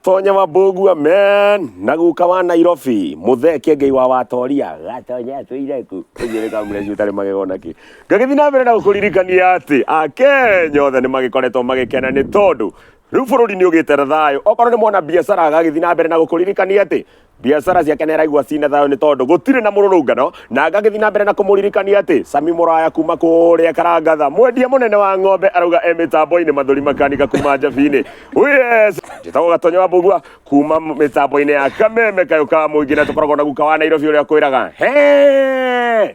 Tonya wa Mbogu amen na guka wa Nairobi muthee kengei wa watoria gatonya tuire ku ujire ka mure cutare magego naki ngagithi na mbere na gukuririkania ati akenya othe ni magikoretwo magikena ni tondu riu bururi ni ugite thayũ okorwo ni mwana biacara agagithi na mbere na gukuririkania ati Biacara ciake nĩ araigua ciĩ na thayũ nĩ tondũ gũtirĩ na mũrũrũngano na ngagĩthiĩ na mbere na kũmũririkania atĩ Sami Mũraya kuma kũrĩa Karangatha mwendia mũnene wa ng'ombe arauga e mĩtambo-inĩ mathũri makanika kuma njabi-inĩ yes njĩtagwo Gatonye wa Mbugua kuma mĩtambo-inĩ ya kameme kayũ ka mũingĩ na tũkoragwo na guka wa Nairobi ũrĩa kwĩraga he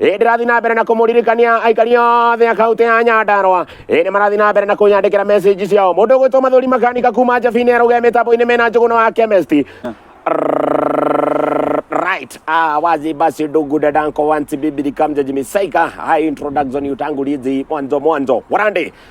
ĩĩ ndĩrathiĩ na mbere na kũmũririkania aikari othe a kaũntĩ ya nyandarwa ĩĩ nĩ marathiĩ na mbere na kũnyandĩkĩra message ciao mũndũ ũgwĩtwo mathũri makanika kuma njabi-inĩ ya rũgee mĩtambo-inĩ mena njũgũna wa chemist right ah wazi basi ndugu dadanko wanti bibili kamja jimisaika hai introduction yutangulizi mwanzo mwanzo warande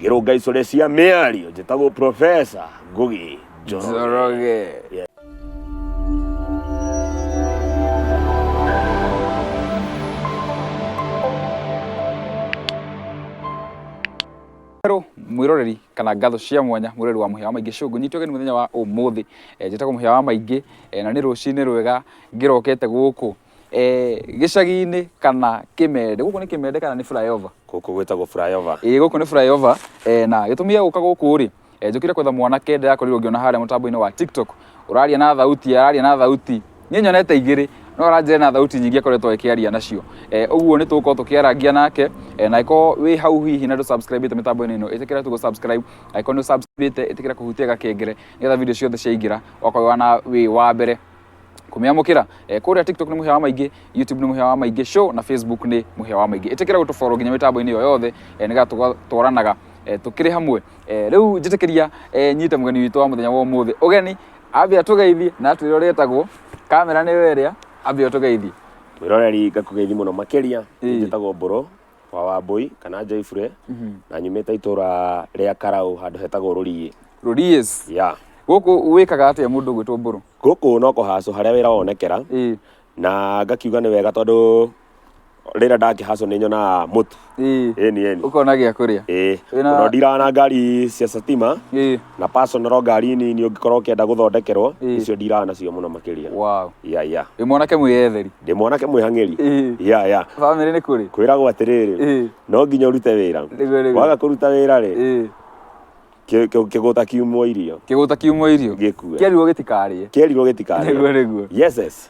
Ngĩrũngaicore cia mĩario njĩtagwo Professor Ngugi Njoroge. Njoroge. Hello, mwiroreri kana ngatho cia mwanya mwiroreri wa muhia wa maingi shungu nyitwo geni muthenya wa umuthi njitagwo muhia wa maingi na ni rucini rwega ngirokete guku eh, gĩcagi-inĩ kana kĩmende gũkũ nĩ kĩmende kana nĩ flyover gũkũ gwĩtagwo flyover ĩĩ gũkũ nĩ flyover eh, na gĩtũmi gĩa gũka gũkũ rĩ eh, njũkire kwetha mwanake ndĩrakorirwo ngĩona harĩa mũtambo-inĩ wa tiktok ũraria na thauti araria na thauti niĩ nyonete igĩrĩ no aranjĩra na thauti nyingĩ akoretwo akĩaria nacio eh, ũguo nĩ tũgũkorwo tũkĩarangia nake eh, na angĩkorwo wĩ hau hihi na ndũsubscribĩte mĩtambo-inĩ ĩno ĩtĩkĩra tu gũsubscribe angĩkorwo nĩ ũsubscribĩte ĩtĩkĩra kũhutia gakengere nĩgetha video ciothe ciaingĩra wakorwo wĩ wa na wĩ wa mbere kumyamukira eh, kuria tiktok ni muhia wa maingi youtube ni muhia wa maingi show na facebook ni muhia wa maingi itikira gutuforo nginya mitambo-ini yo yothe eh, niga twaranaga eh, tukiri hamwe eh, riu njitikiria eh, nyite mugeni witu wa muthenya wa umuthi ugeni ambe atugeithie na atwire uria etagwo kamera ni weria ambe atugeithie mwiroreri ngakugeithi muno makiria Ĩĩ. njitagwo mburu wa Wambũi kana Njoibure na nyumĩte itũra rĩa Karaũ handũ hetagwo Rũriĩ. Rũriĩs. Yeah. Gũkũ wĩkaga atĩa mũndũ gwĩtwo Mbũrũ? Gũkũ no kũhacũ harĩa wĩra wonekera Ĩĩ. na ngakiuga nĩ wega tondũ rĩrĩa ndakĩhacũ nĩ nyonaga mũtu. Ĩĩ. Ĩni ĩni. Ũkona gĩa kũrĩa. Ĩĩ. Wĩna- Tondũ ndiraga na ngari cia Satima Ĩĩ. na personal ngari nini ũngĩkorwo ũkĩenda gũthondekerwo Ĩĩ. icio ndiraga nacio mũno makĩria wow ya ya ĩ mwanake mwĩyetheri ndĩ mwanake mwĩhang'ĩri Ĩĩ. ya ya bamĩrĩ nĩ kũrĩ kwĩragwo atĩrĩrĩ Ĩĩ. no nginya ũrute wĩra Nĩguo, nĩguo. waga kũruta wĩra rĩ Ĩĩ. kĩ- kĩ- kĩgũta kiumwo irio kĩgũta kiumwo irio gĩkue kĩarirwo gĩtikarĩe kerirwo gĩtikarĩ nĩguo nĩguo yes yes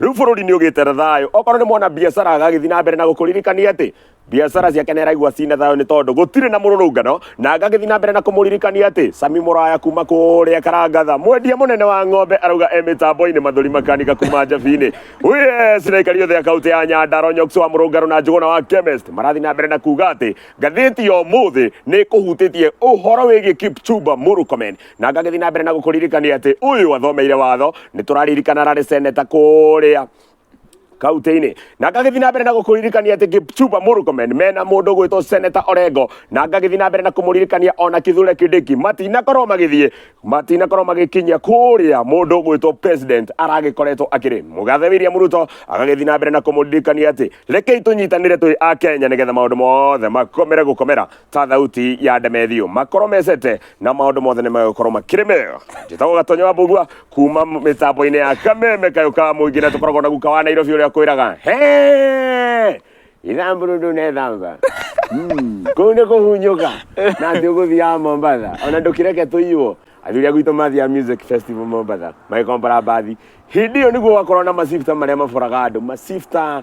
Rĩu bũrũri nĩ ũgĩte na thayũ. Okorwo nĩ mwana biacara agagĩthiĩ na mbere na gũkũririkania atĩ biacara ciake nĩ araigua ciĩ na thayũ nĩ tondũ gũtirĩ na mũrũrũngano, na ngagĩthiĩ na mbere na kũmũririkania atĩ Sami Mũraya kuma kũrĩa Karangatha, mwendia mũnene wa ng'ombe arauga e mĩtambo-inĩ, Mathũri Makanika kuma Njabi-inĩ, Wee Siraikari othe a kaũntĩ ya Nyandarua, Nyox wa Mũrũngarũ na Njũgũna wa Chemist marathiĩ na mbere na kuga atĩ ngathĩti ya ũmũthĩ nĩ ĩkũhutĩtie ũhoro wĩgiĩ Kipchumba Murkomen na ngagĩthiĩ na mbere na gũkũririkania atĩ ũyũ athomeire watho nĩ tũraririkana ararĩ seneta kũrĩa kaunti-inĩ na ngagĩthiĩ na mbere na gũkũririkania atĩ Kipchumba Murkomen mena mũndũ gwĩtwo seneta Orengo na ngagĩthiĩ na mbere na kũmũririkania ona Kithure Kindiki matinakorwo magĩthiĩ matinakorwo magĩkinyia kũrĩa mũndũ gwĩtwo president aragĩkoretwo akĩrĩ mũgathe William Ruto agagĩthiĩ na mbere na kũmũririkania atĩ rekei tũnyitanĩre twĩ a Kenya nĩgetha maũndũ mothe makomere gũkomera ta thauti ya ndemethiũ makorwo mecete na maũndũ mothe nĩ megũkorwo makĩrĩ mega njĩtagwo gatonya wa mbugua kuma mĩtambo-inĩ ya kameme kayũ ka mũingĩ na tũkoragwo na guka wa nairobi ũrĩa kwĩraga "He! ithamburu ndunethamba Mm, kũu nĩ kũhunyũka na atĩ ũgũthiaga mombatha ona ndũkĩreke tũiywo athuri agwitũ mathiaga music festival mombatha magĩkombora mbathi hĩndĩ ĩyo nĩguo gwakorwo na macifta marĩa maboraga andũ macifta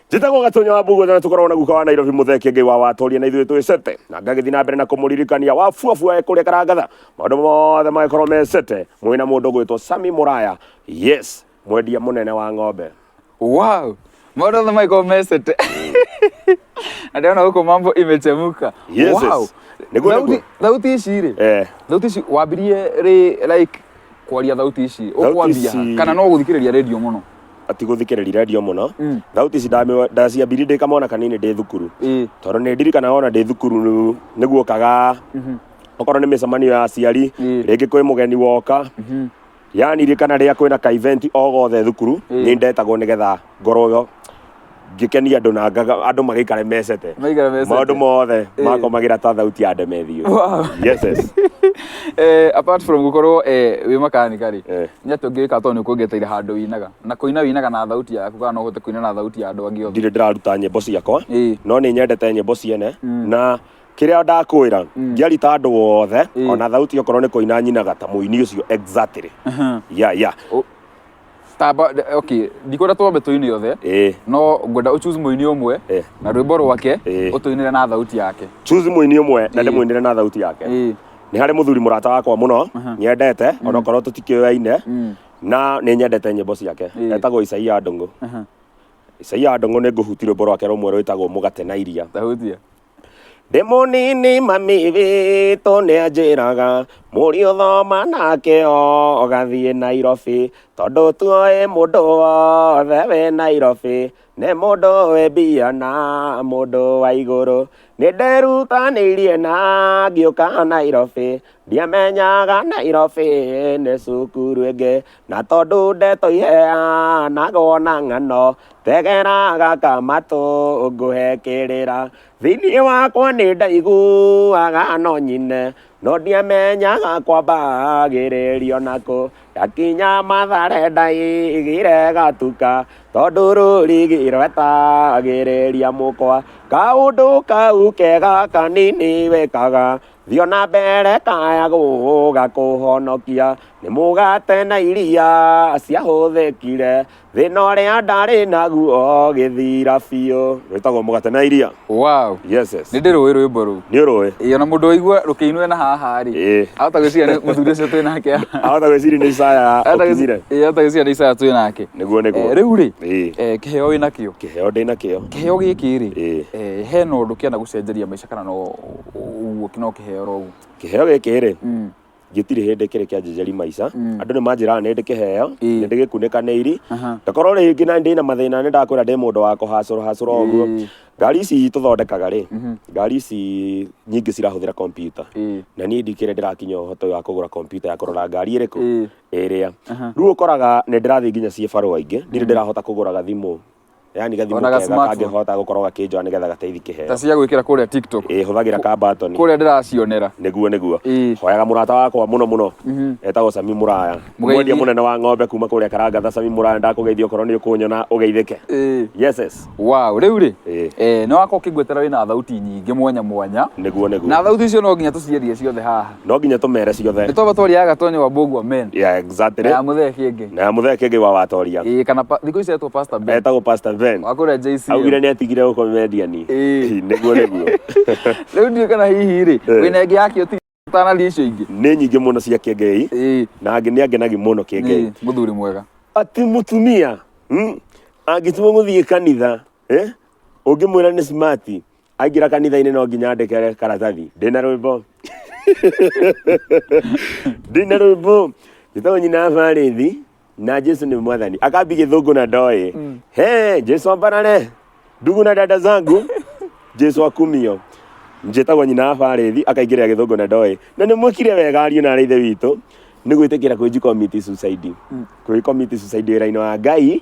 njĩtagwo gatonya wa mbuguo na tũkoragwo na guka wa nairobi mũtheke ngai wa watoria na ithuĩ twĩ sete na ngagĩthiĩ na mbere na kũmũririkania wa buabua kũrĩa karangatha maũndũ mothe magĩkorwo me sete mwĩ na mũndũ ũgwĩtwo sami mũraya yes mwendia mũnene wa ng'ombe wow maũndũ othe maiko mesete andiona huko mambo imechemuka Yes, wow. yes. Nĩguo, Thauti- nĩguo. thauti ici rĩ eh, thauti ici wambirie rĩ like kwaria thauti ici Thauti ũkwambia ici- kana no gũthikĩrĩria radio mũno ati gũthikĩrĩria redio mũno Mm. thauti ici ndamĩwa- ndaciambirie ndĩ kamwana kanini ndĩ thukuru ĩĩ tondũ nĩ ndirikana wona ndĩ thukuru nĩ guokaga Mhm. okorwo nĩ mĩcemanio ya aciari Mm. rĩngĩ kwĩ mũgeni woka Mhm. yanirikana rĩrĩa kwĩna ka event o gothe thukuru Mm. nĩ ndetagwo nĩgetha ngorwo ngĩkenia andũ na ngaga andũ magĩikare mecete Maigara mecete. maũndũ mothe Eh. makomagĩra ta thauti ya ndemethiũ Wow. yes yes Eh, apart from gukorwo eh, wi makanika ri Eh. nä atä å ngä ka to nä kuongeteire handå winaga na kå ina winaga na thauti yaku kana no å hote kå ina na thauti ya andå angä othe ndirĩ ndĩraruta nyĩmbo ciakwa Ĩĩ. no nĩ nyendete nyĩmbo ciene na kĩrĩa ndakwĩra ngĩarita andå wothe Ĩĩ. ona thauti okorwo nä kå ina nyinaga ta må ini å cio exactly yeah yeah Ũ- tamba okay ndikũra twambe tũine othe eh no ngwenda ũchoose mũini ũmwe Eh. na rwĩmbo rwake Eh. ũtũinĩre na thauti yake choose mũini ũmwe na Eh. ndĩmũinĩre na thauti yake Eh. nĩ harĩ mũthuri mũrata wakwa mũno nyendete onokorwo tũtikĩoyaine Mm. na nĩ nyendete nyĩmbo ciake Eh. etagwo isaia ndũngũ Aha. isaia ndũngũ nĩ ngũhuti rwĩmbo rwake rũmwe rwĩtagwo mũgate na iria ndahutia Ndĩ mũnini mami witũ nĩ anjĩraga mũriũ ũthoma nake ũgathiĩ Nairobi tondũ tuoĩ mũndũ wothe wĩ Nairobi nĩ mũndũ wĩ mbia na mũndũ wa igũrũ. Nĩ nderutanĩirie na ngĩũka Nairobi ndiamenyaga nairobi nĩ cukuru ĩngĩ na tondũ ndeto iheanagwo na ng'ano tegera gaka matũ ngũhe kĩrĩra thĩinĩ wakwa nĩ ndaiguaga no nyine no ndiamenyaga kwambagĩrĩrio nakũ ndakinya mathare ndaigire gatuka tondũ rũrigi rwetagĩrĩria mũkwa kaũndũ kau kega kanini wĩkaga Thiĩ o na mbere kaya gũũga kũhonokia, nĩ mũgate na iria ciahũthĩkire, thĩna ũrĩa ndarĩ naguo ũgĩthira biũ. Rwĩtagwo mũgate na iria. Wow. Yes, yes. Nĩ ndĩrũĩ rwĩmbo rũu. Nĩ ũrũĩ? Ĩĩ ona mũndũ waigua rũkĩinwo na haha rĩ, Ĩĩ. ahota gwĩciria nĩ mũthuri ũcio twĩ nake haha. Ahota gwĩciria nĩ Isaya Ahota gwĩci- ũkinyire. ĩĩ, ahota gwĩciria nĩ Isaya twĩ nake. Nĩguo, nĩguo. Eh, Rĩu rĩ, Ĩĩ. eh, kĩheo wĩ nakĩo. Kĩheo ndĩ nakĩo. Kĩheo gĩkĩ rĩ, Ĩĩ. eh, hena ũndũ kĩana gũcenjeria maica kana no ũguo no kĩheo rogu kĩheo gĩkĩ rĩ Mm. gĩtirĩ hĩndĩ kĩrĩ kĩa njejeri maica Mm. andũ nĩ manjĩraga nĩ ndĩ kĩheo Ĩĩ. nĩ ndĩ gĩkunĩka nĩ iri Aha. ndakorwo rĩngĩ na ndĩ na mathĩna nĩ ndakwĩra ndĩ mũndũ wa kũhacũra hacũra ũguo Ĩĩ. ngari ici tũthondekaga rĩ Mhm. ngari ici nyingĩ cirahũthĩra kompyuta Ĩĩ. na niĩ ndikĩrĩ ndĩrakinya ũhoti wa kũgũra kompyuta ya kũrora ngari ĩrĩkũ Ĩĩ. ĩrĩa Aha. rĩu ũkoraga nĩ ndĩrathiĩ nginya ciĩ barũa ingĩ ndirĩ ndĩrahota kũgũra gathimũ yani gathimu Ona ga kega smartphone. kangĩhota gũkorwo gakĩnjoa nĩgetha gateithie kĩheo ta cia gwĩkĩra kũrĩa tiktok ĩ hũthagĩra ka batoni kũrĩa ndĩracionera nĩguo nĩguo Ĩĩ. hoyaga mũrata wakwa mũno mũno etagwo sami mũraya Mũgeithie. mwendia mũnene wa ng'ombe kuma kũrĩa karangatha sami mũraya ndakũgeithia okorwo nĩ ũkũnyona ũgeithĩke Ĩĩ. yes yes wow rĩu rĩ Ĩĩ. eh, nĩ wakorwo ũkĩngwetera wĩna thauti nyingĩ mwanya mwanya nĩguo nĩguo na thauti icio no nginya tũciendie ciothe haha no nginya tũmere ciothe nitoba tworiaga tonyo wa bogu amen yeah, exactly na ya muthee kenge na muthee kĩngĩ wa watoria eh kana pa- thikũ ici etwo pastor ben etagwo pastor ben wakũrĩa JC augire nĩ atigire gũkomediani Ĩĩ. nĩguo nĩguo rĩu ndiũ kana hihi rĩ Eh. wĩna ĩngĩ yakĩ ũti ũtanaria icio ingĩ nĩ nyingĩ mũno cia kĩngei Ĩĩ, na angĩ nĩ angenagi mũno kĩngei ĩĩ, mũthuri mwega ati mutumia mm, angĩtua gũthiĩ kanitha eh? ũngĩmwĩra nĩ smart aingĩra kanitha-inĩ no nginya andĩke karatathi ndĩna rwĩmbo ndĩna rwĩmbo gĩtoo nyina barĩthi na jesu nĩ mwathani akambi gĩthũngũ na ndoĩ he jesu ambarare ndugu na dada zangu jesu akumio njĩtagwo nyina barĩthi akaingĩrĩra gĩthũngũ na ndoĩ na nĩ mwĩkire wega ariũ na arĩithe witũ nĩ gwĩtĩkĩra kwĩji committee suicide kwĩ committee suicide wĩra-inĩ wa ngai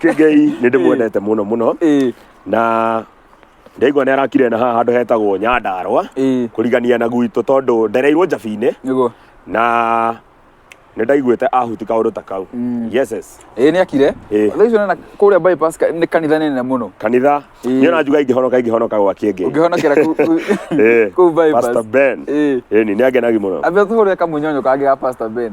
kĩngei nĩ ndĩmwendete mũno mũno ĩĩ na ndaigua nĩ arakire na haha handũ hetagwo nyandarwa ĩĩ kũrigania na gwitũ tondũ ndereirwo njabi-inĩ nĩguo na nĩ ndaiguĩte ahuti kaũndũ ta kau Mm. yes yes ĩĩ nĩ akire Ĩĩ. thaa icio nena kũrĩa bypass ka- nĩ kanitha nene mũno kanitha Ĩĩ. niĩ na njuga ingĩhonoka ingĩhonoka gwa kĩngĩ ũngĩhonokera kũ- kũ- Ĩĩ. kũu bypass Pastor Ben Ĩĩ. ĩni nĩ angenagi mũno ambia tũhũrĩre kamunyonyo kangĩ ga pastor ben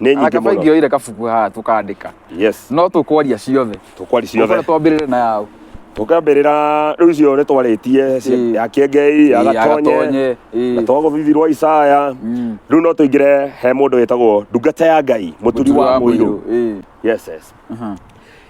nĩ nyingĩ Arake mũno maingĩoire kabuku haha tũkandĩka yes no tũkwaria ciothe tũkwari ciothe Ũkore twambĩrĩre na yaũ tũkambĩrĩra rĩu icio nĩ twarĩtie Ĩĩ. ya kĩengei ya Ĩĩ, gatonye ĩĩ. na twagũthithi rwa isaya Mm. rĩu no tũingĩre he mũndũ wĩtagwo ndungata ya ngai mũturi wa mũirũ Ĩĩ. yes yes Aha.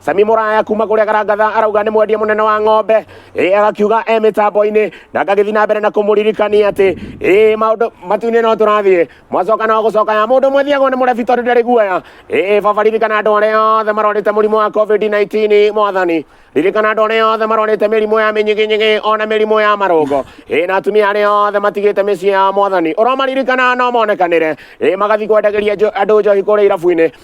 Sami Muraya kuma kuria Karangatha arauga nĩ mwendia mũnene wa ng'ombe ĩ agakiuga e mĩtambo-inĩ na ngagĩthiĩ na mbere na kũmũririkania atĩ ĩ maũndũ matu-inĩ no tũrathiĩ mwacoka no gũcoka ya mũndũ ũmwe thiagwo nĩ mũrebi tondũ ndarĩ guoya ĩ baba ririkana andũ arĩa othe marwarĩte mũrimũ wa covid-19 mwathani ririkana andũ arĩa othe marwarĩte mĩrimũ ya mĩnyiginyigi ona mĩrimũ ya marũngo ĩ na atumia arĩa othe matigĩte mĩciĩ ya mwathani ũromaririkana no monekanĩre ĩ magathiĩ kwendagĩria njo- andũ njohi kũrĩa irabu-inĩ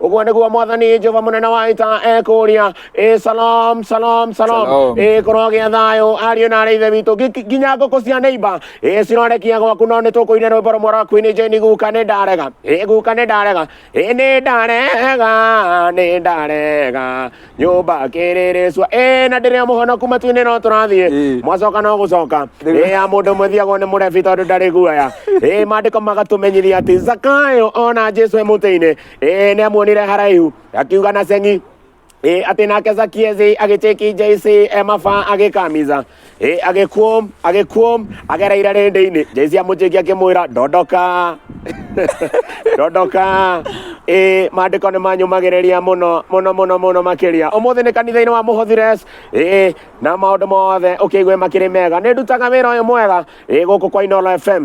ũguo nĩguo mwathani jehova mũnene wa ita ekũria ĩ salom salom salom Shalom. ĩ korwo gĩa thayũ ariũ na arĩ ithe witũ Ngi- nginya ngũkũ cia neiba ĩ cirorekia gwaku no nĩ tũkũine rwĩmbo rũmwe rwa kwini jeni guka nĩ ndarega ĩ guka nĩ ndarega ĩ nĩ ndarega nĩ ndarega nyũmba kĩrĩrĩcua ĩ na ndĩrĩ mũhonoku matu-inĩ no tũrathiĩ Ĩ. mwacoka no gũcoka Nĩguo. ĩ ya mũndũ ũmwe thiagwo nĩ mũrebi tondũ ndarĩ guoya ĩ mandĩko magatũmenyithia atĩ zakayo ona jesu e mũtĩ-inĩ ĩ nĩ amuonire haraihu akiuga na ceng'i ĩ atĩ nake zakiezi agĩtĩki jc e maba agĩkamiza Ĩ, agĩkuom agĩkuom agereire rĩndĩ-inĩ jesi amũnjĩki akĩmwĩra ndondoka ndondoka ĩ maandĩko nĩ manyũmagĩrĩria mũno mũno mũno mũno makĩria ũmũthĩ nĩ kanitha-inĩ wa mũhothires ĩ na maũndũ mothe ũkĩigue makĩrĩ mega nĩ ndutaga wĩra ũyũ mwega ĩ gũkũ kwa inolo fm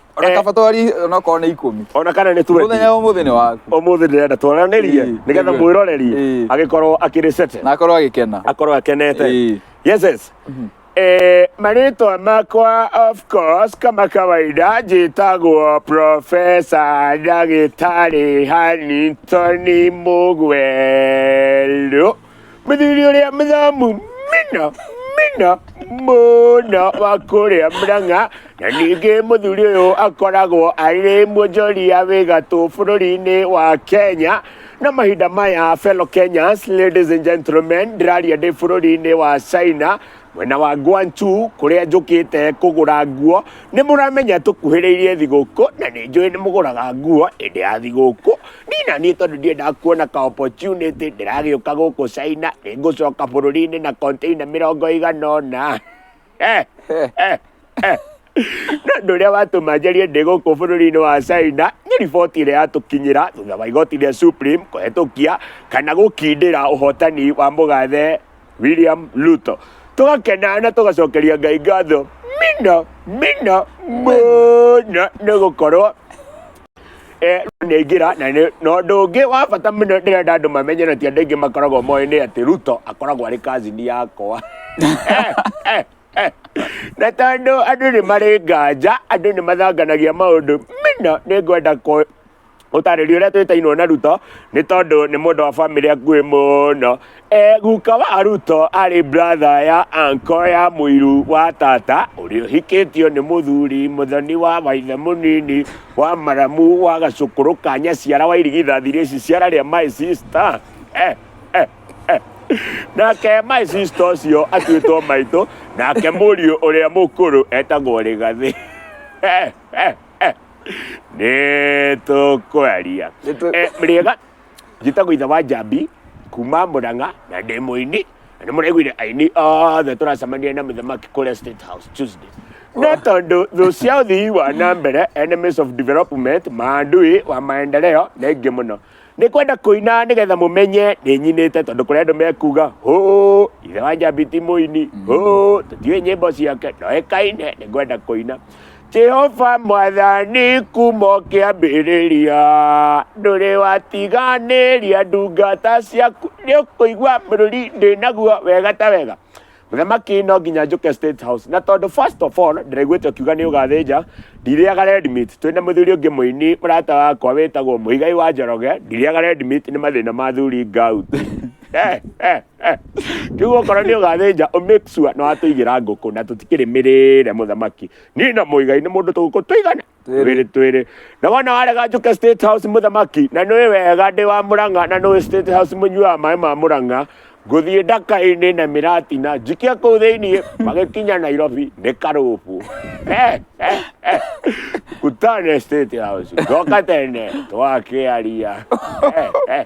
ona Eh. kaba twari ona korwo nĩ ikũmi ona kana nĩ mũthenya twendi wa mũthenya waku ũmũthĩ ndĩrenda tuoranĩrie Ĩĩ, nĩgetha nĩguo. mwĩroreri Ĩĩ. agĩkorwo akĩrĩ sete na akorwo agĩkena akorwo akenete Ĩĩ. yes yes Eh, marĩtwa makwa of course kama kawaida njĩtagwo profesa ndagĩtarĩ hanitoni mũgwerũ Mũthuri ũrĩa mũthomu mũno mũno mũno wa kũrĩa Murang'a na ningĩ mũthuri ũyũ akoragwo arĩ muonjoria wĩ gatũ bũrũri-inĩ wa Kenya na mahinda maya fellow Kenyans, ladies and gentlemen, ndĩraria ndĩ bũrũri-inĩ wa China. mwena wa Guangzhou kũrĩa njũkĩte kũgũra nguo nĩ mũramenya tũkuhĩrĩirie thigũkũ na nĩ njũĩ nĩ mũgũraga nguo hĩndĩ ya thigũkũ niĩ na niĩ tondũ ndiendaga kuona ka opportunity ndĩragĩũka gũkũ China nĩ ngũcoka bũrũri-inĩ na container mĩrongo ĩigana ũna na ũndũ ũrĩa watũma njarie ndĩ gũkũ bũrũri-inĩ wa China nĩ riboti ĩrĩa yatũkinyĩra thutha wa igoti rĩa Supreme kũhetũkia kana gũkindĩra ũhotani wa mũgathe William Ruto tũgakena na tũgacokeria Ngai ngatho mina mina mũno nĩ gũkorwo eh, nĩaingĩra na nĩ- na ũndũ ũngĩ wa bata mũno ndĩrenda andũ mamenye na ti andũ aingĩ makoragwo moĩ nĩ atĩ Ruto akoragwo arĩ kazini yakwa Eh, eh. na tondũ andũ nĩ marĩ nganja andũ nĩ mathanganagia maũndũ mina nĩ ngwenda kũ- gũtarĩria ũrĩa twĩtainwo na ruto nĩ tondũ nĩ mũndũ wa bamĩrĩ akuĩ mũno e, guka wa ruto arĩ bratha ya anko ya mũiru wa tata ũrĩa ũhikĩtio nĩ mũthuri mũthoni wa waithe mũnini wa maramu wa gacũkũrũ ka nyaciara wa irigithathi rĩci ciara rĩa my sister eh, eh. nake my sister ũcio atuĩtwo maitũ nake mũriũ ũrĩa mũkũrũ etagwo rĩgathĩ nĩ tũkwaria Nĩtũ- Eh, rĩega njĩtagwo ithe wa njambi kuma mũrang'a na ndĩ mũini na nĩ mũraiguire aini othe tũracemania na mũthamaki kũrĩa state house tuesday no tondũ thũ cia ũthii wa na mbere enemies of development maandui wa maendeleo nĩ ingĩ mũno nĩ kwenda kũina nĩ getha mũmenye nĩ nyinĩte tondũ kũrĩ andũ mekuga hũ ithe wa njambi ti mũini hũ tũtiũĩ nyĩmbo ciake ndoĩkaine nĩ ngwenda kũina jehova mwathani kuma ũkĩambĩrĩria ndũrĩ watiganĩria ndungata ciaku nĩ ũkũigua bũrũri ndĩ naguo wega ta wega Mũthamaki no nginya njũke State House na tondũ first of all ndĩraiguĩte ũkiuga nĩ ũgathĩnja ndirĩaga red meat twĩ na mũthuri ũngĩ mũini mũrata wakwa wĩtagwo Mũigai wa Njoroge ndirĩaga red meat nĩ mathĩna ma athuri gout Eh, eh, eh. rĩu okorwo nĩ ũgathĩnja ũ make sure nĩ watũigĩra ngũkũ na tũtikĩrĩ mĩrĩre mũthamaki niĩ na Mũigai nĩ mũndũ tũgũkũ tũigana twĩrĩ twĩrĩ na wona warega njũke state house mũthamaki na nĩ wega ndĩ wa mũrang'a na nĩ state house mũnyuaga maĩ ma mũrang'a ngũthiĩ ndaka-inĩ na mĩratina njikia kũu thĩinĩ magĩkinya nairobi nĩ karũbũ Eh, eh, eh. kutane state house ndoka tene twakĩaria Eh, eh.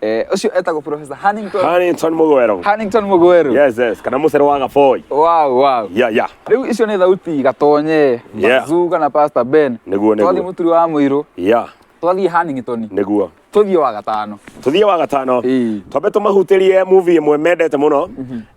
Eh, ũcio etagwo Professor Hannington Hannington Mugweru. Hannington Mugweru. Yes, yes. Kana Mucere wa Gaboi. Wow, wow. Yeah, yeah. Rĩu icio nĩ thauti gatonye Yeah. Mazuga na Pastor Ben. Nĩguo, nĩguo. Twathiĩ mũturi wa mũirũ, Yeah. twathiĩ Hannington, Nĩguo. tũthiĩ wa gatano. Tũthiĩ wa gatano. Ĩĩ. Twambe tũmahutĩrie movie ĩmwe mendete mũno.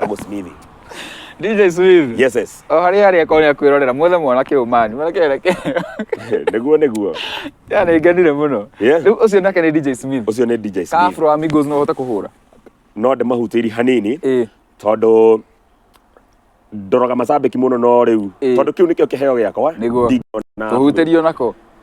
Dogo Smith. DJ Smith. Yes, yes. O harĩa harĩa ko nĩa kwĩrorera muothe mwana kĩu mani. Mwana kĩu reke. Nĩguo nĩguo. Ya nĩ ngenire mũno. Yes. Rĩu ũcio nake nĩ DJ Smith. Ũcio nĩ DJ Ka Smith. Afro Amigos no ũhote kũhũra. No ndĩmahutĩri hanini Ĩĩ. tondũ ndoraga macambĩki mũno no rĩu Ĩĩ. tondũ kĩu nĩkĩo kĩheo gĩakwa Nĩguo. ndingĩona Tũhutĩrio nako.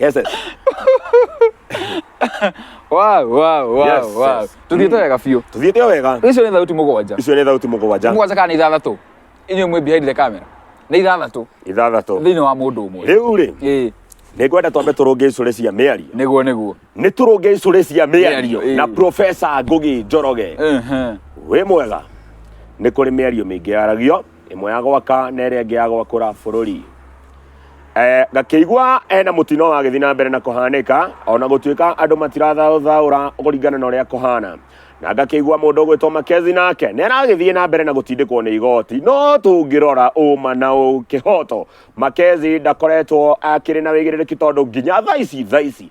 Yes, yes. Wow, wow, wow, Yes, wow. yes. Tuthiĩte wega biũ. Tuthiĩte o wega. Icio nĩ thauti mũgwanja. Icio nĩ thauti mũgwanja. Mũgwanja kana nĩ ithathatũ? Inyuĩ mwĩ behind the camera. Nĩ ithathatũ Ithathatũ. thĩinĩ wa mũndũ ũmwe. Rĩu rĩ, Ĩĩ, nĩ ngwenda twambe tũrũnge icũrĩ cia mĩario. nĩguo nĩguo. Nĩ tũrũnge icũrĩ cia mĩario Mĩario, ĩĩ. na Profesa Ngũgi Njoroge. Ehe. Wĩ mwega. Nĩ kũrĩ mĩario mĩingĩ yaragio ĩmwe ya gwaka na ĩrĩa ĩngĩ ya gwakũra bũrũri Eh, ngakĩigua hena mũtino wagĩthiĩ na mbere na kũhanĩka ona gũtuĩka andũ matirathaũthaũra kũringana na ũrĩa kũhana na ngakĩigua mũndũ ũgwĩtwo makezi nake nĩ aragĩthiĩ na mbere na gũtindĩkwo nĩ igoti no tũngĩrora ũma na ũkĩhoto makezi ndakoretwo akĩrĩ na wĩigĩrĩrĩki tondũ nginya thaa ici thaa ici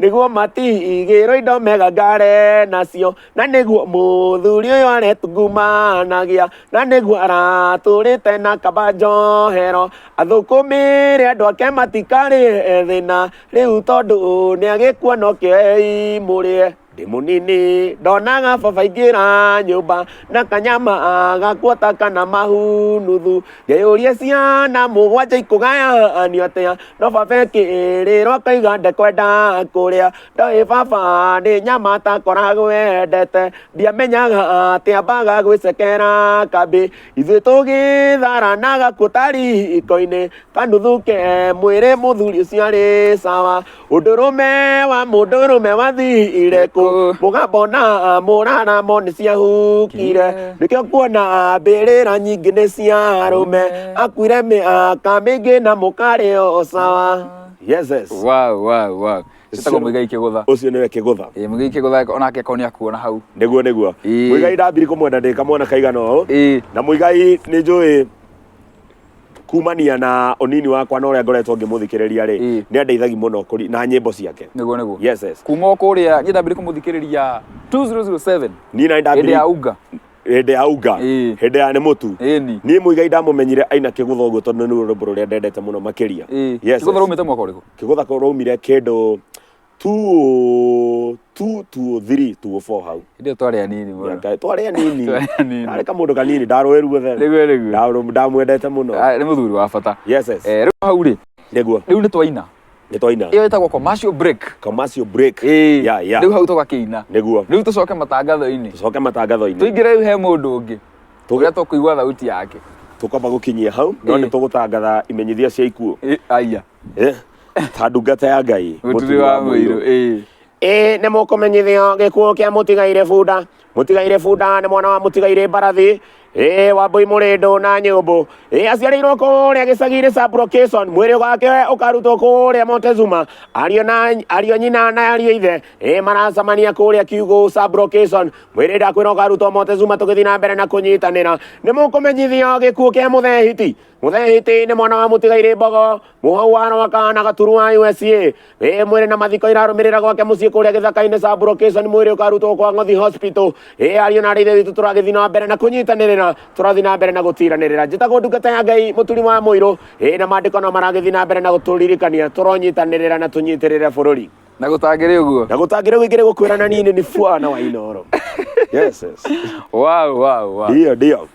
nĩguo matigĩrwo indo megangare nacio na nĩguo mũthuri ũyũ aretungumanagia na nĩguo aratũrĩte na kaba njohero athũkũmĩre andũ ake matikarĩ thĩna rĩu tondũ nĩ agĩkua no kĩoi mũrĩe ndĩ mũnini ndonaga baba ingĩra nyũmba na kanyama agakuota kana mahu nuthu ngeyũria ciana mũgwanja ikũgayanio atĩa no baba ekĩrĩrwo akaiga ndekwenda kũrĩa ndoĩ baba nĩ nyama atakoragwo wendete ndiamenyaga atĩa mbaga gwĩcekera kambĩ ithuĩ tũgĩthara na gakuo ta riko-inĩ kanuthu ke mwĩrĩ mũthuri ũcio arĩ sawa Ũndũrũme wa mũndũrũme wathiire kũ mũgambo na mũraramo nĩ ciahukire nĩkĩo kuona mbĩrĩra nyingĩ nĩ cia arũme akuire mĩaka mĩingĩ na mũkarĩ o sawa yeses wow wow wow citagwo Ũcio- mũigai kĩgũtha ũcio nĩwe kĩgũtha Eh, mũigai kĩgũtha onake ko nĩ akuona hau nĩguo nĩguo Ĩĩ. mũigai ndambiri kũmwenda ndĩ kamwana kaigana ũũ ĩĩ na mũigai nĩ njũĩ kumania na unini wakwa na uria ngoretwo ngimuthikiriria ri Mm. ni andeithagi muno kuri- na nyimbo ciake niguo niguo yes yes kuma o kũrĩa niĩ ndambire kũmũthikĩrĩria 2007 ni na hĩndĩ ndambiri ya unga hindi ya unga Ĩĩ. hindi ya ni mutu ĩni ni muigai ndamumenyire aina kigutha uguo tondu ni rwimbo ruria ndendete muno makiria ĩĩ Yes, kĩgũtha yes. rumĩte mwaka ũrĩkũ kigutha ko rumire kindu 2 2 2 3 2 4 hau Ndio twarĩ anini mũno. Ngai, twarĩ anini Twarĩ anini. arĩ kamũndũ kanini ndarũĩ ruothe Nĩguo nĩguo. Ndarũ- ndamwendete mũno Ah, Nĩ mũthuri wa bata. yes yes Eh, Rĩu hau rĩ, nĩguo rĩu nĩ twaina. nĩ twaina Ĩyo ĩtagwo commercial break. commercial break Ĩĩ. ya ya Rĩu hau tũgakĩina. nĩguo Rĩu tũcoke matangatho-inĩ. tũcoke matangatho-inĩ Tũingĩre rĩu he mũndũ ũngĩ. Tũge- Ũrĩa tũkũigua thauti yake. tũkamba gũkinyia hau no Ĩĩ. nĩ tũgũtangatha imenyithia cia ikuũ Ĩ, Aya. Eh, ta ndungata ya ngai mũturi wa mũirũ ĩĩ ĩĩ nĩ mũkũmenyithio gĩkuũ kĩa mũtigaire bunda mũtigaire bunda nĩ mwana wa mũtigaire mbarathi ĩĩ wambũi mũrĩndũ na nyũmbũ ĩĩ aciarĩirwo kũrĩa gĩcagi-inĩ ca brocation mwĩrĩ wake ũkarutwo kũrĩa montezuma ariũ na ariũ nyina na ariũ ithe ĩĩ maracemania kũrĩa kiugũ ca brocation mwĩrĩ ndakwĩra ũkarutwo montezuma tũgĩthiĩ na mbere na kũnyitanĩra nĩ mũkũmenyithio gĩkuũ kĩa mũthehiti mũthehiti nĩ mwana wa mũtigaire mbogo mũhwana wa kana gaturu wa usa ĩ mwĩrĩ na mathiko irarũmĩrĩra gwake mũciĩ kũrĩa gĩthaka-inĩ sa brocation mwĩrĩ ũkarutwo kwa ng'othi hospital ĩ ariũ na arĩithe witũ tũragĩthiĩ na mbere na kũnyitanĩrĩra tũrathiĩ na mbere na gũtiranĩrĩra njĩtagwo ndungata ya ngai mũturi wa mũirũ ĩ na maandĩko no maragĩthiĩ na mbere na gũtũririkania tũronyitanĩrĩra na tũnyitĩrĩre bũrũri na gũtangĩrĩ ũguo na gũtangĩre wĩkĩre gũkwĩra na niĩ nĩ bwana wa inoro yes, yes. wow, wow, wow. ndio ndio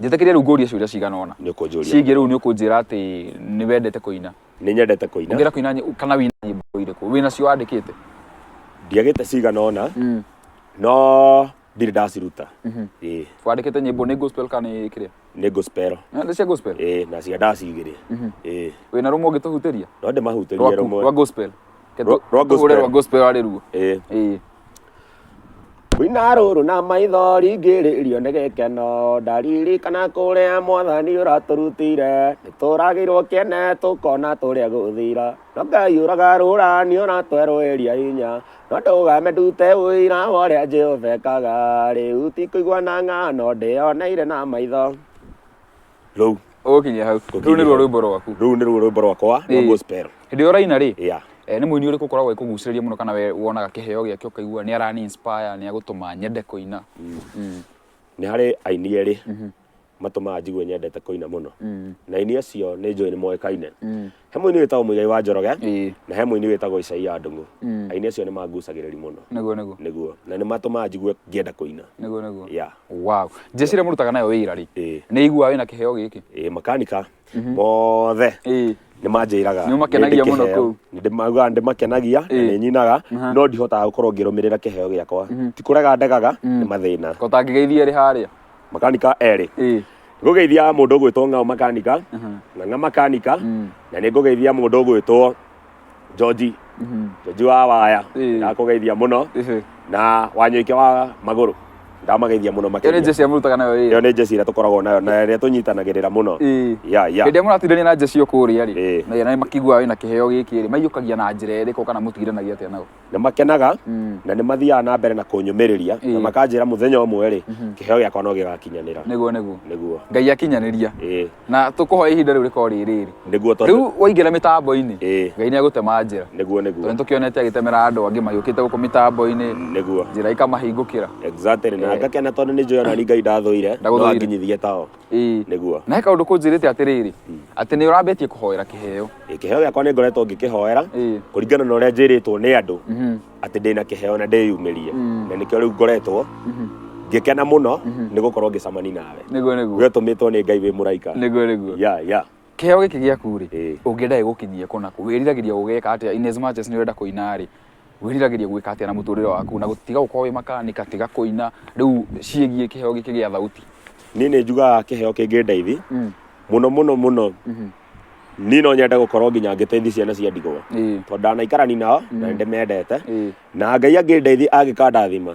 njĩtĩkĩria rĩu ngũrie ciũria cigana ũna nä å kå njå ria cingĩ rĩu nĩ ũkũnjĩra atĩ nĩ wendete kũina nä nyendete kå ina ngĩra kũina nyĩ- kana wĩna nyĩmbo irĩkũ wĩna cio wandĩkĩte ndiagä te cigana ona no ndirä ndaciruta Ĩĩ, wandĩkĩte nyĩmbo nĩ gospel kana nĩ kĩrĩa nä gospel Na nĩ cia gospel Ĩĩ, na cia ndacigä rä Ĩĩ, wĩna rũmwe ũngĩtũhutĩria no ndä mahutĩrie rwaku rwa rũmwe gospel Ke Rwa- tu- rwa tũhũre gospel. rwa gospel arĩ ruo Ĩĩ. Ĩĩ. Rwina rũrũ na maitho ringĩrĩrio nĩ gĩkeno ndaririkana kũrĩa mwathani ũratũrutire nĩtũragĩrwo kĩene tũkona tũrĩa gũthira no ngai ũragarũra nĩ ũratwerũĩria hinya no ndũgame ndute ũira wa ũrĩa jehova ekaga rĩu ti kũigua na ng'ano ndĩyoneire na maitho rĩu ũgũkinya hau rĩu nĩruo rwĩmbo rwaku rĩu nĩruo rwĩmbo rwakwa rwa Ĩĩ. gospel hĩndĩ ĩyo ũraina rĩ yeah eh, nĩ mũini ũrĩkũ ũkoragwo ĩkũgucĩrĩria mũno kana we wonaga kĩheo gĩake ũkaigua nĩ arani inspire nĩ agũtũma nyende kũina Mm. nĩ harĩ aini erĩ matũmaga njigue nyendete kũina mũno na aini acio nĩ njũĩ nĩ moĩkaine he mũini wĩtagwo mũigai wa njoroge ĩĩ na he mũini wĩtagwo isaia ndung'u Mm. aini acio nĩ mangucagĩrĩri mũno nĩguo nĩguo nĩguo na nĩ matũmaga njigue ngĩenda kũina nĩguo nĩguo ya wow jeshi rĩa mũrutaga nayo wĩra rĩ Ĩĩ. nĩ iguaga wĩna kĩheo gĩkĩ ĩ makanika mothe ĩĩ nä manjäraga Nĩ ũmakenagia mũno kũu. ndämaugaga ndä makenagia na Ĩĩ. nä nyinaga Aha. no ndihotaga gå korwo ngä rå mä rä ra kä heo gä akwa ti kå rega ndegaga nä mathä na ko tangĩgeithia rĩ harĩa makanika erĩ Eh. ngũgeithia mũndũ ũgwĩtwo ng'ao makanika Aha. na ng'a makanika Mm. na nĩ ngũgeithia mũndũ ũgwĩtwo joji Mhm. joji wa waya Ĩĩ. ndakũgeithia mũno Ehe. na wanyoike wa magũrũ ndamageithia mũno Ĩyo nĩ makĩria jeshi amũrutaga nayo ĩyo ĩyo. nĩ njeci ĩrĩa tũkoragwo nayo na ĩrĩa tũnyitanagĩrĩra mũno Ĩĩ. ya ya Hĩndĩ ĩrĩa mũratindania na jeshi ĩyo kũrĩa rĩ, Ĩĩ. na na makiguaga wĩna kĩheo gĩkĩ rĩ, maiyũkagia na njĩra ĩrĩkũ kana mũtigiranagia atĩa nao? nĩ makenaga Mm. na nĩ mathiaga na mbere na kũnyũmĩrĩria na Ĩĩ. makanjĩra mũthenya ũmwe rĩ kĩheo gĩakwa no gĩgakinyanĩra nĩguo nĩguo nĩguo ngai akinyanĩria ĩĩ na tũkũhoya ihinda rĩu rĩkorwo rĩ rĩrĩ nĩguo tondũ rĩu waingĩra mĩtambo-inĩ Ĩĩ. ngai nĩ agũtema njĩra nĩguo tondũ nĩguo nĩtũkĩonete agĩtemera andũ angĩ magĩũkĩte gũkũ mĩtambo-inĩ nĩguo njĩra ikamahingũkĩra exactly na Eh. ngakena tondũ nĩ njũĩ ona ni ngai ndathũire no Ndagũthũire. anginyithie tao ĩĩ nĩguo na he kaũndũ kũnjĩrĩte atĩrĩrĩ atĩ nĩ ũrambĩtie kũhoera kĩheo Ĩ, kĩheo gĩakwa nĩ ngoretwo ngĩkĩhoera Ĩ. kũringana na ũrĩa njĩrĩtwo nĩ andũ Mhm. atĩ ndĩ na kĩheo na ndĩyumĩrie Mm. na nĩkĩo rĩu ngoretwo Mhm. ngĩkena mũno nĩ gũkorwo ngĩcamani nawe nĩguo nĩguo we ũtũmĩtwo nĩ ngai wĩ mũraika nĩguo nĩguo ya ya kĩheo gĩkĩ gĩaku rĩ Ĩ. ũngĩenda gĩgũkinyie kũ naku wĩriragĩria gũgĩka atĩa in as much as nĩ ũrenda kũina rĩ wĩriragĩria gwĩka atĩa na mũtũrĩre waku na gũtiga gũkorwo wĩ makanika tiga kũina rĩu ciĩgiĩ kĩheo gĩkĩ gĩa thauti niĩ nĩ njugaga kĩheo kĩngĩndeithi Mm, mũno mũno mũno mhm, niĩ no nyende gũkorwo nginya ngĩteithia ciana cia ndigwa ĩĩ, tondũ ndanaikarani nao na nĩ ndĩmendete ĩĩ, na ngai angĩndeithia angĩkandathima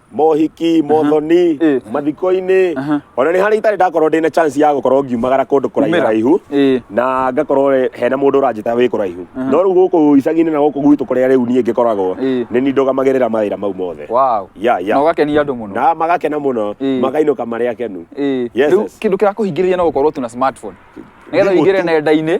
mohiki mothoni Eh. mathiko-inĩ Aha. ona nĩ harĩa itarĩ ndakorwo ndĩna chance ya gũkorwo ngiumagara kũndũ kũraihu Kumĩra. raihu Ĩĩ. na ngakorwo re- hena mũndũ ũranjĩta wĩ kũraihu no rĩu gũkũ icagi-inĩ na gũkũ gwitũ kũrĩa rĩu niĩ ngĩkoragwo Ĩĩ. nĩ niĩ ndũgamagĩrĩra mawĩra mau mothe Wow. Ya, ya. Na ũgakenia andũ mũno. na magakena mũno Ĩĩ. makainũka marĩ akenu Ĩĩ. Yes, Rĩu yes. kĩndũ kĩrakũhingĩrĩria no gũkorwo tu na smartphone. Nĩgetha Thimũ ũingĩre tu. nenda-inĩ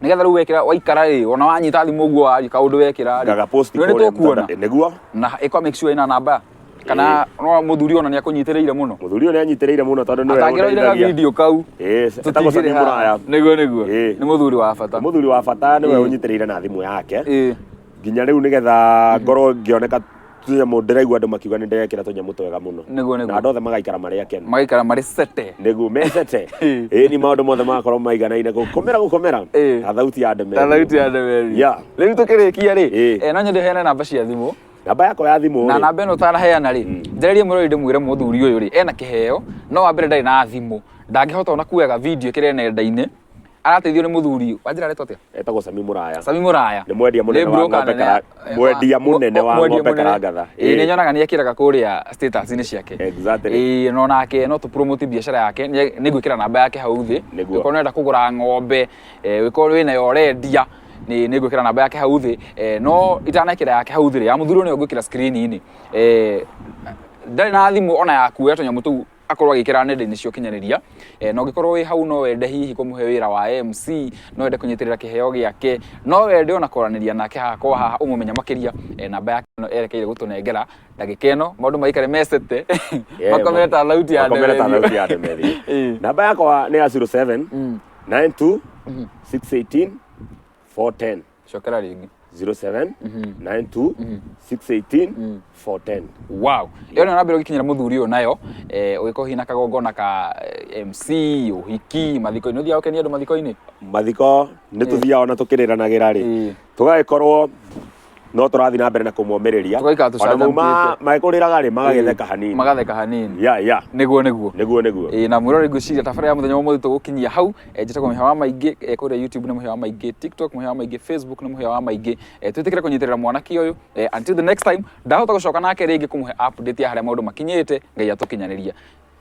nigetha riu wekira waikara ri ona wanyita thimu guo wari kaundu wekira ri ngaga post Nĩ kũrĩa tũkuona. mtandao- nĩguo na iko make sure ina namba kana no muthuri ona ni akunyitiriire muno mũthuri ũyũ nĩ anyitĩrĩire mũno tondũ nĩwe atangiroire ga ũndeithagia. video kau Ĩĩ, etagwo Sami Mũraya. niguo niguo Ĩĩ. ni muthuri wa bata nĩ mũthuri wa bata nĩwe Ĩĩ. ũnyitĩrĩire na thimũ yake Ĩĩ. nginya rĩu nĩgetha ngorwo ngĩoneka tũnyamũ ndĩraigua andũ makiuga nĩ ndĩrekĩra tũnyamũ twega mũno Nĩguo, nĩguo. na andũ othe magaikara marĩ akenu magaikara marĩ sete nĩguo mecete ĩni maũndũ mothe magakorwo maiganaine gũkomera gũkomera Ĩĩ. na thauti ya ndemeri ta thauti ya ndemeri Yeah. rĩu tũkĩrĩkia rĩ Ĩĩ. eh, no nyende heane namba cia thimũ namba yakwa ya thimũ na rĩ, namba ĩno ũtanaheana rĩ njererie mũrori ndĩmwĩre mũthuri ũyũ rĩ ena kĩheo no wa mbere ndarĩ na thimũ ndangĩhota ona kuoyaga video kĩrĩa nenda-inĩ arateithio nĩ mũthuri wanjĩra aretwo atĩa etagwo sami mũraya sami mũraya nĩ mwendia Nĩ mũnene wa broker ng'ombe nene- kara- eh, mwendia wa- mũnene wa mwendia ng'ombe mũnene. karangatha Ĩĩ, nĩ nyonaga nĩ ekĩraga kũrĩa status-inĩ ciake Exactly. Ĩĩ, no nake no tũpromote biacara yake nĩ nĩ ngwĩkĩra namba yake hau thĩ Nĩguo. Ũngĩkorwo nĩũrenda kũgũra ng'ombe eh, wĩkorwo wĩnayo ũrendia nĩ nĩ ngwĩkĩra namba yake hau thĩ Eh, no itanekĩra yake hau thĩ rĩ ya mũthuri ũyũ nĩyo ngwĩkĩra screen-inĩ Eh, ndarĩ na thimũ ona yakuoya tũnyamũ tũu akorwo agikira nenda-inĩ cia ũkinyanĩria e, na ũngĩkorwo wĩ hau no wende hihi kũmũhe wĩra wa MC no wende kũnyitĩrĩra kĩheo gĩake no wende ona kwaranĩria nake haha kwa haha ũmũmenya makĩria e, namba yake no erekeire gũtũnengera ndagĩka ĩno maũndũ maikare mecete Yeah, makomere ta thauti ya makomere ta ndemethi. thauti ya ndemethi Eh. namba yakwa nĩ ya 07 92 618 410 cokera rĩngĩ 07 Mhm. 92 Mhm. 618 Mm. 410 wow ĩyo nĩ nambere ũgĩkinyĩra mũthuri ũyũ nayo eh, ũgĩkorwo hihi na kagongona ka eh, mc ũhiki mathiko-inĩ ũthiaga ũkenia andũ mathiko-inĩ mathiko nĩ tũthiaga ona tũkĩrĩranagĩra rĩ Ĩĩ. tũgagĩkorwo no tũrathiĩ na mbere na kũmomĩrĩria Tũgaikara Ona mau ma- tũcanjamũkĩte. magĩkũrĩraga rĩ magagĩtheka hanini magatheka hanini ya ya nĩguo nĩguo nĩguo nĩguo Ĩĩ, na mwĩrore ngwĩciria tabara ya mũthenya wa ũmũthĩ tũgũkinyia hau eh, njĩtagwo mũhĩa wa maingĩ eh, kũrĩa youtube nĩ mũhĩa wa maingĩ tiktok mũhĩa wa maingĩ facebook nĩ mũhĩa wa maingĩ eh, twĩtĩkĩre kũnyitĩrĩra mwanake ũyũ eh, until the next time ndahota gũcoka nake rĩngĩ kũmũhe update ya harĩa maũndũ makinyĩte ngai atũkinyanĩria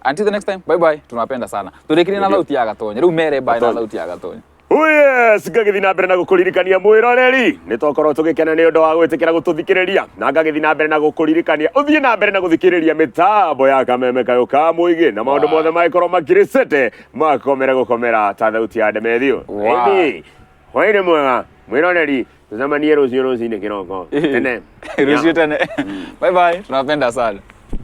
until the next time bye bye tunapenda sana tũrĩkirie na lauti ya gatonya rĩu mere bye na Gatonya. lauti ya gatonya Oh yes, ngagĩthiĩ na mbere na gũkũririkania mwĩroreri nĩ twakorwo tũgĩkena nĩ ũndũ wa gwĩtĩkĩra gũtũthikĩrĩria na ngagĩthiĩ na mbere na gũkũririkania ũthiĩ na mbere na gũthikĩrĩria mĩtambo ya kameme kayo ka mũigĩ na maũndũ Wow. mothe mangĩkorwo makirĩcĩte mwakomera gukomera ta thauti ya ndemethio Wow. Ĩndĩ, hwaĩ-inĩ mwega mwĩroreri tũcemanie rũciũ rũcinĩ kĩroko tene rũciũ tene bye bye tunawapenda sana